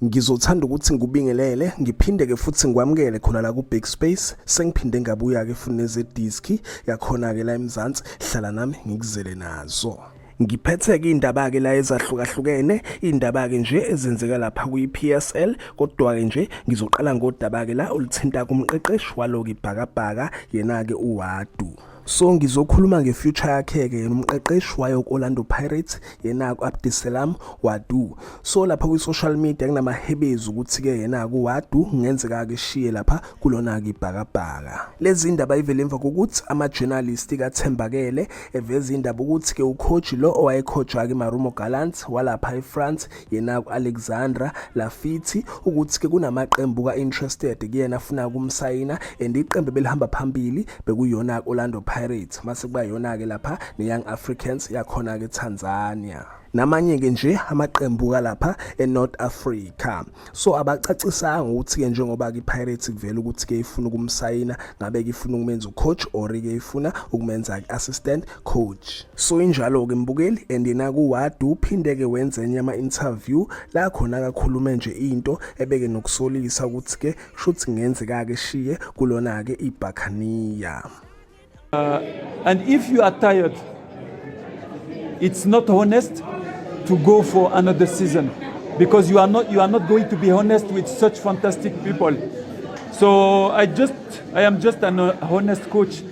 Ngizothanda ukuthi ngikubingelele ngiphinde ke futhi ngikwamukele khona la ku Big Space sengiphinde ngabuya ke futhi neze disc yakhona ke la eMzansi hlala nami ngikuzele nazo Ngiphetheke indaba ke la ezahlukahlukene indaba ke nje ezenzeka lapha kwi PSL kodwa ke nje ngizoqala ngodaba ke la olithinta kumqeqeshi waloki bhakabhaka yena ke uWadu so ngizokhuluma nge-future yakhe-ke yena umqeqeshi wayo ku-orlando pirates yena-ku abdiselam wadu so lapha kwi-social media kunamahebezi ukuthi-ke yena-ku wadu kungenzeka-ke ishiye lapha kulona-ke ibhakabhaka lezi ndaba ivele emva kokuthi ama-journalist kathembakele eveza indaba ukuthi-ke ukhoji lo owayekhojwa-ke marumo galant walapha efrance yena ku-alexandra lafithi ukuthi-ke kunamaqembu ka-interested kuyena afuna kumsayina and iqembu belihamba phambili bekuyona-ke orlando pirates mase kuba yona-ke lapha ne-young africans yakhona-ke tanzania namanye-ke nje amaqembu kalapha enorth africa so abacacisanga ukuthi-ke njengoba-ke ipirates kuvela ukuthi-ke ifuna ukumsayina ngabe-ke ifuna ukumenza ucoach or-ke ifuna ukumenza-ke assistant coach So injalo-ke mbukeli and yena kuwadu uphinde-ke wenze enye ama-interview la khona akakhulume nje into ebeke nokusolisa ukuthi-ke shuthi kungenzeka-ke shiye kulona-ke ibhakhaniya uh, and if you are tired it's not honest to go for another season because you are not you are not going to be honest with such fantastic people so i just i am just an uh, honest coach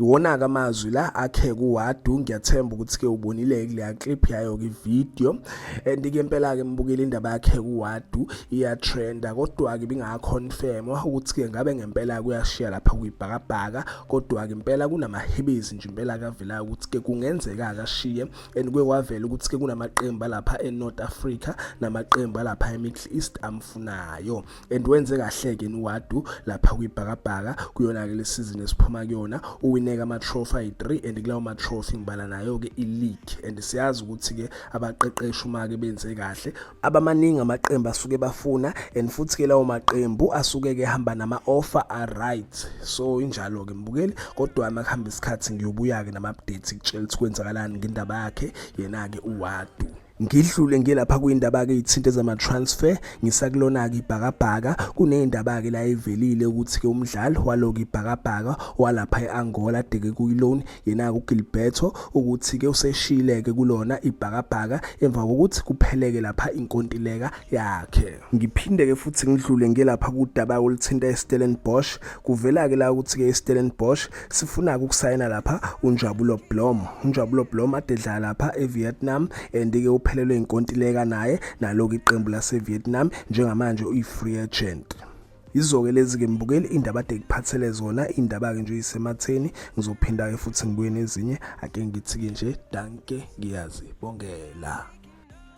Iwona-ke amazwi la akhe kuwadu ngiyathemba ukuthi-ke ubonile-ke kuleya clip yayo-ke ividiyo and-ke impela-ke mbukile indaba yakhe kuwadu iyatrenda kodwa-ke ibingakhonfemwa ukuthi-ke ngabe ngempela kuyashiya lapha kuyibhakabhaka kodwa-ke impela kunamahebezi nje impela kavelayo ukuthi-ke kungenzeka akashiye and kuye kwavela ukuthi-ke kunamaqembu alapha e-north africa namaqembu alapha e-middle east amfunayo and wenze kahleke niwadu lapha kwibhakabhaka kuyona-ke le sizini esiphuma kuyona uwineka ama-trophy ayi-3 and kulawo ma-trophy ngibala nayo-ke i-league and siyazi ukuthi-ke abaqeqeshi uma-ke benze kahle abamaningi amaqembu asuke bafuna and futhi-ke lawo maqembu asuke-ke hamba nama-offer a-right so injalo-ke mbukeli kodwa uma kuhamba isikhathi ngiyobuya-ke nama-update kutshela ukuthi kwenzakalani ngendaba yakhe yena-ke uwadu Ngidlule ngilapha kwindaba-ke ithinta ezama-transfer ngisakulona-ke ibhakabhaka kuney'ndaba-ke la evelile ukuthi-ke umdlali waloku ibhakabhaka walapha e-angola adeke kuyi-loan yena-ke ugilberto ukuthi-ke useshile-ke kulona ibhakabhaka emva kokuthi kupheleke lapha inkontileka yakhe ngiphinde-ke futhi ngidlule ngilapha kudaba oluthinta i-stellenbosch kuvela-ke la ukuthi-ke i-stellenbosch sifuna ukusayina lapha uNjabulo Blom uNjabulo Blom adedla lapha eVietnam and ke uphelelwe inkontileka naye naloku iqembu laseVietnam njengamanje uyi-free agent izoke lezi ke mbukeli indaba ade kuphathele zona indaba ke nje isematheni ngizophinda ke futhi ngibuye nezinye ake ngithi ke nje danke ngiyazi bongela